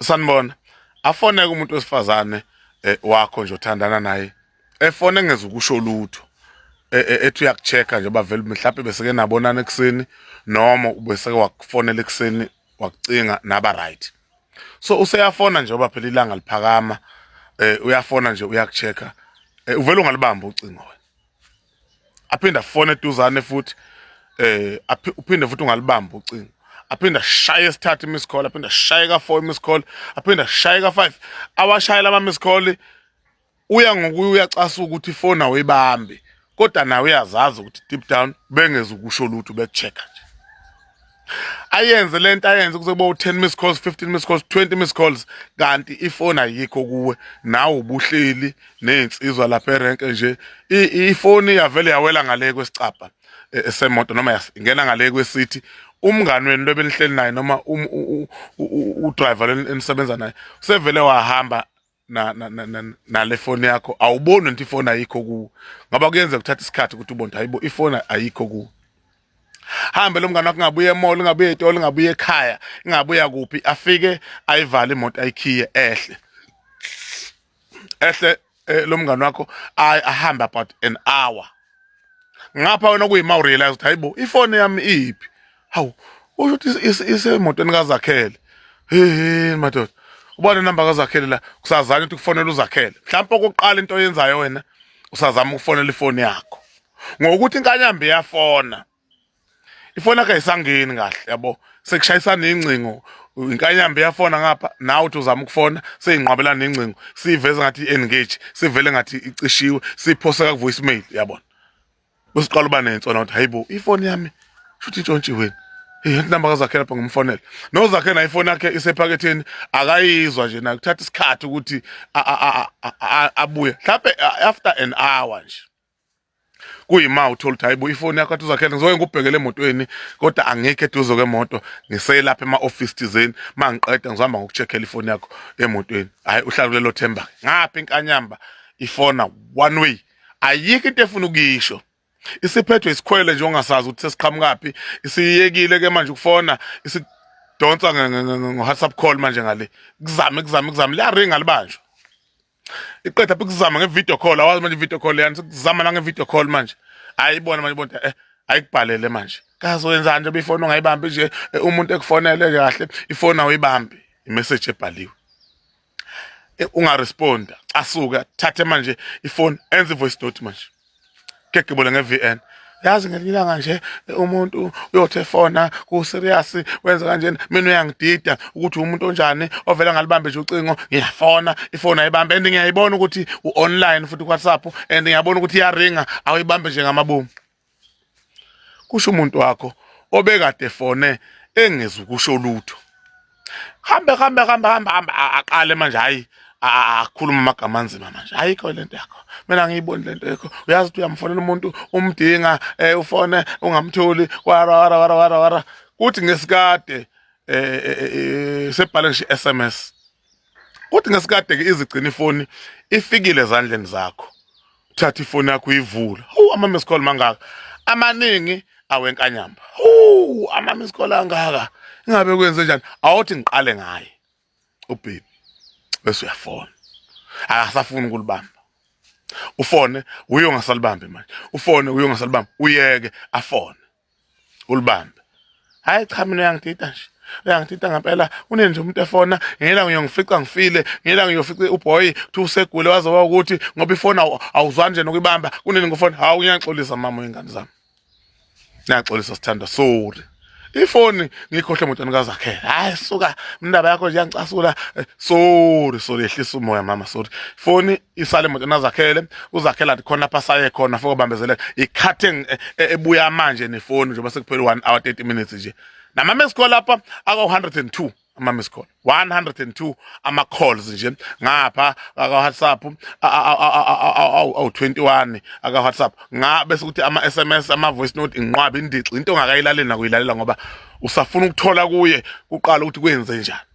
sanibona afoneke umuntu wesifazane eh, wakho nje othandana naye efone ngeze ukusho lutho e, e, ethi uyakuchecka nje bavele mhlawumbe beseke nabonana ekuseni noma ubeseke wakufonela ekuseni wakucinga naba right so useyafona nje oba phela ilanga liphakama eh uyafona nje uyakuchecka eh, uvele ungalibamba ucingo wena aphinde afone eduzane futhi eh uphinde futhi ungalibamba ucingo aphinde ashaye esithathu imiss call aphinde ashaye ka 4 imiss call aphinde ashaye ka 5 awashayela ama miss call uya ngokuya uyacasa ukuthi ifona uyibambe kodwa nawe uyazazi ukuthi deep down bengeza ukusho lutho bekuchecka nje ayenze lento ayenze kuze bo 10 miss calls 15 miss calls 20 miss calls kanti ifoni ayikho kuwe nawe ubuhleli nezinsizwa lapha erank nje ifoni yavele yawela ngale kwesicabha e, e, semoto noma yasingena ngale kwesithi umngani wenu lobenihleli naye noma um, u driver lenisebenza naye usevele wahamba na na na, na, na le phone yakho awuboni nti phone ayikho ku ngaba kuyenza kuthatha isikhathi ukuthi ubone hayibo ifone ayikho ku hambe lomngane wakho ngabuye emall ngabuye etolo ngabuye ekhaya ngabuya kuphi afike ayivale imoto ayikhiye ehle ehle eh, lomngane wakho ahambe about an hour ngapha wena kuyima urealize ukuthi hayibo ifone yami iphi hawu usho ukuthi isemotweni kazakhele hehe madoda ubona inamba kazakhele la kusazana ukuthi kufonela uzakhele mhlawumbe okokuqala into oyenzayo wena usazama ukufonela ifoni yakho ngokuthi inkanyambe yafona ifoni yakhe ayisangeni kahle yabo sekushayisana ingcingo inkanyamba iyafona ngapha nawe uthi uzama ukufona seyinqwabelana nengcingo siyiveze ngathi i-engage sivele ngathi icishiwe siphoseka ku-voice mail yabona besiqala uba nensona ukuthi hayi bo ifoni yami shuthi intshontshiweni inamba kazakhe lapha ngimfonela nozakhe nayo ifoni yakhe isephaketheni akayizwa nje nakuthatha isikhathi ukuthi abuye mhlawumbe after an hour nje kuyima uthola ukuthi hayibo ifoni yakho athi uzakhele ngizoke ngikubhekele emotweni kodwa angikho eduze kwemoto ngiselapha ema-ofisi thizeni uma ngiqeda ngizohamba ngoku-check-ela ifoni yakho emotweni hhayi uhlala kulelo themba ngapha inkanyamba ifona one way ayikho into efuna ukuyisho isiphethwe isikhwele nje ongasazi ukuthi sesiqhamukaphi isiyekile ke manje ukufona isidonsa ngo-whatsapp call manje ngale kuzame kuzame kuzame liyaringa libanjwa iqeda ukuzama ngevideo call awazi manje video call yani sikuzama nangevideo call manje ayibona manje bonta eh ayikubhalele manje kaze wenzani nje befoni ongayibambi nje eh, umuntu ekufonele kahle ifoni awuyibambi imessage ebhaliwe eh, ungaresponda asuke thathe manje ifoni enze voice note manje gegibule nge-vn yazi ngelinye ilanga nje umuntu uyothi efona ku-serious wenza kanjena mina uyangidida ukuthi umuntu onjani ovele ngalibambe nje ucingo ngiyafona ifoni ayibambe and ngiyayibona ukuthi u-online futhi ku-whatsapp and ngiyabona ukuthi iyaringa awuyibambe nje ngamabomu kusho umuntu wakho obekade fone engezi ukusho lutho hambe hambe hambe hambe hambe aqale manje hayi akhuluma amagama anzima manje ayikho lento yakho mina ngiyiboni lento yakho uyazi ukuthi uyamfonela umuntu umdinga eh ufone ungamtholi wara wara wara wara wara kuthi ngesikade eh, eh, eh, eh sebhale ngisho SMS Kodwa ngesikade-ke izigcina ifoni ifikile ezandleni zakho thatha ifoni yakho uyivula hu ama-miss call mangaka amaningi awenkanyamba hu ama-miss call angaka ingabe kwenze njani awuthi ngiqale ngaye ubhebi bese uyafona akasafuni ukulibamba ufone uye ongasalibambi manje ufone uye ongasalibambi uyeke afone ulibambe hayi cha mina uyangidida nje uyangidida ngempela une nje umuntu efona ngela ngiyofica ngifile ngela ngiyofica uboy thi usegule wazoba ukuthi ngoba ifona awuzwani nje nokuyibamba kunini ngifona hawu ngiyaxolisa mama wengane zami ngiyaxolisa sithanda sorry ifoni ngikhohle emotweni kazakhela hayi suka indaba yakho nje yangicasula eh, sorry sorry ehlisa umoya mama sorry ifoni isale imoto nazakhele uzakhela athi khona lapha saye khona foko bambezeleka ikhathi e, e, ebuya manje nefoni njengoba sekuphele 1 hour 30 minutes nje nama miss call lapha aka 102 ama miss call 102 ama calls nje ngapha aka WhatsApp awu 21 aka WhatsApp nga bese ukuthi ama SMS ama voice note inqwaba indixi into ongakayilalela nakuyilalela ngoba usafuna ukuthola kuye kuqala ukuthi kwenze njani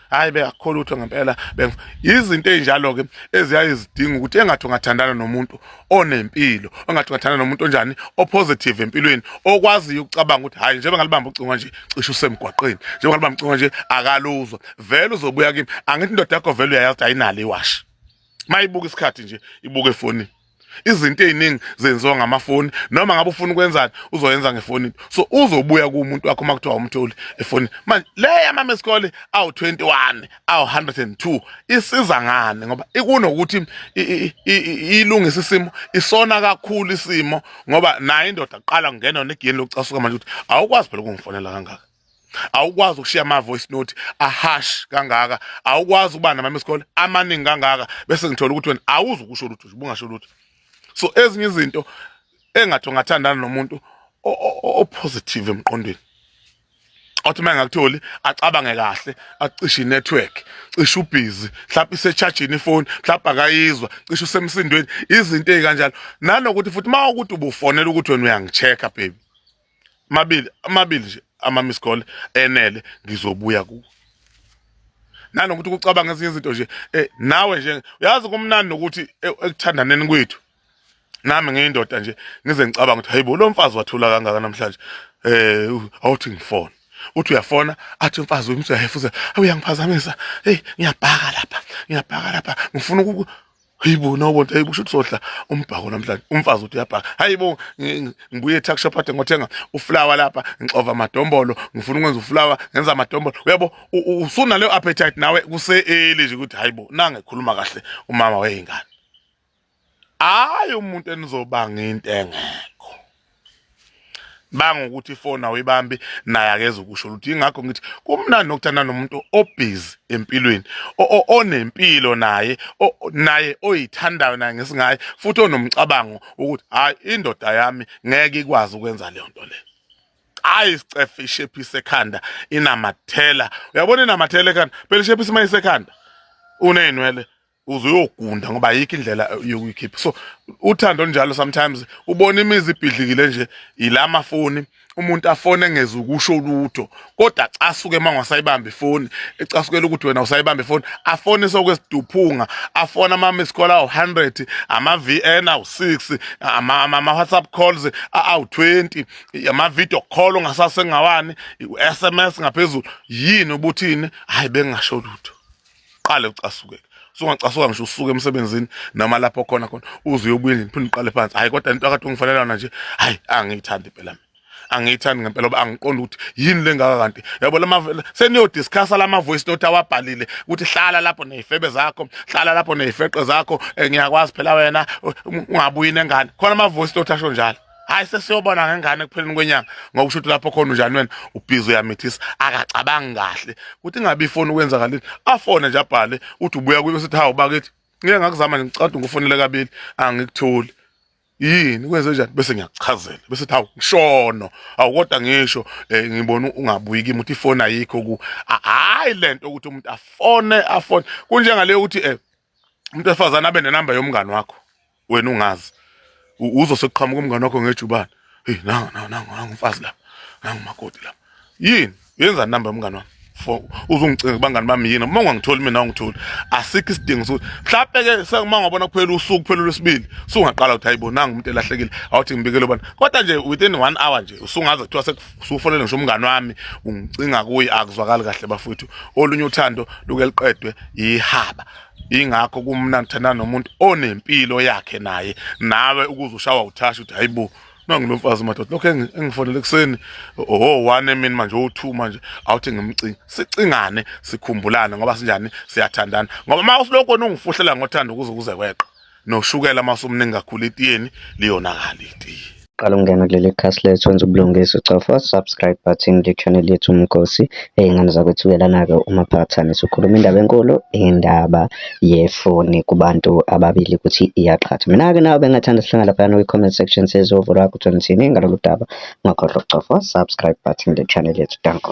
hayi bengakukho lutho ngempela yizinto ezinjalo-ke eziyaye zidinga ukuthi engathi ungathandana nomuntu onempilo engathi ungathandana nomuntu onjani opositive empilweni okwaziyo ukucabanga ukuthi hhayi njengoba ngalibamba ucingo nje cishe usemgwaqeni njengoba ngalibamba ucingo nje akaluzwa vele uzobuya kimi angithi indoda yakho vele uyayazi ukuthi ayinalo iwashi mayibuka isikhathi nje ibuke efonini izinto eziningi zenziwa ngamafoni noma ngabe ufuna ukwenzani uzoyenza ngefoni so uzobuya kumuntu wakho uma kuthiwa umtholi efoni manje le yamama esikole awu 21 awu 102 isiza ngani ngoba ikunokuthi ilungisa isimo isona kakhulu isimo ngoba naye indoda aqala kungena negeni lokucasuka manje ukuthi awukwazi phela ukungifonela kangaka awukwazi ukushiya ama voice note ahash kangaka awukwazi ukuba nama miss call amaningi kangaka bese ngithola ukuthi wena awuzi ukusho lutho ubungasho lutho so ezinye izinto engathi ungathandana nomuntu o positive emqondweni othi uma engakutholi acabange kahle acishe network cishe ubhizi mhlawumbe isechajini ifoni mhlawumbe akayizwa cishe usemsindweni izinto ezikanjalo nanokuthi futhi uma ukuthi ubufonela ukuthi wena uyangichecka baby mabili amabili nje ama miss call enele ngizobuya kuwe nanokuthi kucabanga ezinye izinto nje eh nawe nje uyazi kumnandi nokuthi eh, ekuthandaneni kwethu nami ngiyindoda nje ngize ngicabanga ukuthi hayibo lo mfazi wathula kangaka namhlanje eh awuthi ngifone uthi uyafona athi umfazi uyimthi uyahefuza uyangiphazamisa hey ngiyabhaka lapha ngiyabhaka lapha ngifuna uku Hayibo nobo nto hayibo shuthi sodla umbhako namhlanje umfazi uthi uyabhaka hayibo ngibuye etuck shop ade ngothenga uflower lapha ngixova amadombolo ngifuna ukwenza uflower ngenza amadombolo uyabo usuna leyo appetite nawe kuseeli nje ukuthi hayibo nange khuluma kahle umama weyingane hayi umuntu enizobanga into engekho banga ukuthi ifoni awuyibambi naye akeze ukusho lutho ingakho ngithi kumnandi nokuthanda nomuntu obhizi empilweni onempilo naye naye oyithandayo naye ngesingaye futhi onomcabango ukuthi hayi indoda yami ngeke ikwazi ukwenza leyo nto leyo hayi isicefe ishephise ekhanda inamathela uyabona inamathela ekhanda phela ishephise uma isekhanda uney'nwele uze uyogunda ngoba ayikho indlela yokuyikhipha so uthando njalo sometimes ubona imizi ibhidlikile nje ila mafoni umuntu afone engeze ukusho lutho kodwa acasuke uma ngasayibamba ifoni ecasukela ukuthi wena usayibamba ifoni afone sokwesiduphunga afone ama-miss call awu-100 ama-vn awu-6 ama-whatsapp calls awu-20 ama-video call ongasasengawani u-s m s ngaphezulu yini ubuthini hhayi bengingasho lutho qale ucasukeke sungacasuka ngisho usuke emsebenzini noma lapho khona khona uze uyobuye nini phinde uqale phansi hayi kodwa into akade ungifanelana nje hayi angiyithandi impela mina angiyithandi ngempela oba angiqondi ukuthi yini lengaka kanti yabo lama seniyo discuss lama voice note awabhalile ukuthi hlala lapho nezifebe zakho hlala lapho nezifeqe zakho eh, ngiyakwazi phela wena ungabuyi nengane khona ama voice note asho njalo hayi sesiyobona ngengane ekupheleni kwenyanga ngoba usho ukuthi lapho khona unjani wena ubhizi uyamithisa akacabangi kahle ukuthi ingabe ifoni ukwenzakalile afone nje abhale uthi ubuya kuyo sithi hawu bakithi ngike ngakuzama nje ngicade ngufonele kabili angikutholi yini kwenze njani bese ngiyakuchazela bese thi hawu ngishono awu kodwa ngisho eh, ngibona ungabuyi kimi uthi ifoni ayikho ku hayi lento ukuthi umuntu afone afone kunjengaleyo ukuthi eh umuntu wesifazane abe nenamba yomngani wakho wena ungazi uzoseqhamuka umngani wakho ngejubane hey nangu nangu nangu nangu umfazi la nangu makoti la yini yenza number umngani wami for uzungicinga bangani bami yini uma ungangitholi mina ungitholi asikho isidingo sokuthi mhlawumbe ke sekuma ngabona kuphela usuku kuphela lwesibili sungaqala ukuthi hayibo nangu umuntu elahlekile awuthi ngibikele ubani kodwa nje within 1 hour nje usungaze kuthiwa usufonele ngisho umngane wami ungicinga kuye akuzwakali kahle bafuthu olunye uthando luke liqedwe ihaba ingakho kumnandi thanda nomuntu onempilo yakhe naye nawe ukuze ushawa uthasha uthi hayibo nangilomfazi madoda lokho engifonele ekuseni oh one mina manje o2 manje awuthi ngimcinga sicingane sikhumbulane ngoba sinjani siyathandana ngoba uma usilokho ungifuhlela ngothando ukuze kuze kweqa noshukela uma usumningi kakhulu itiyeni liyonakala itiye qala ukungena kuleli khasi lethu wenza ubulungisa ucofa subscribe button le channel yethu umgosi ey'ngane zakwethu uyelana-ke umaphathane sikhuluma indaba enkulu indaba yefoni kubantu ababili ukuthi iyaqhatha mina-ke nawe bengathanda sihlangana laphayana kwi-comment section sezovo lwakho ukuthi ngithini ngalolu daba ungakhohlwa ukucofa subscribe button le channel yethu danko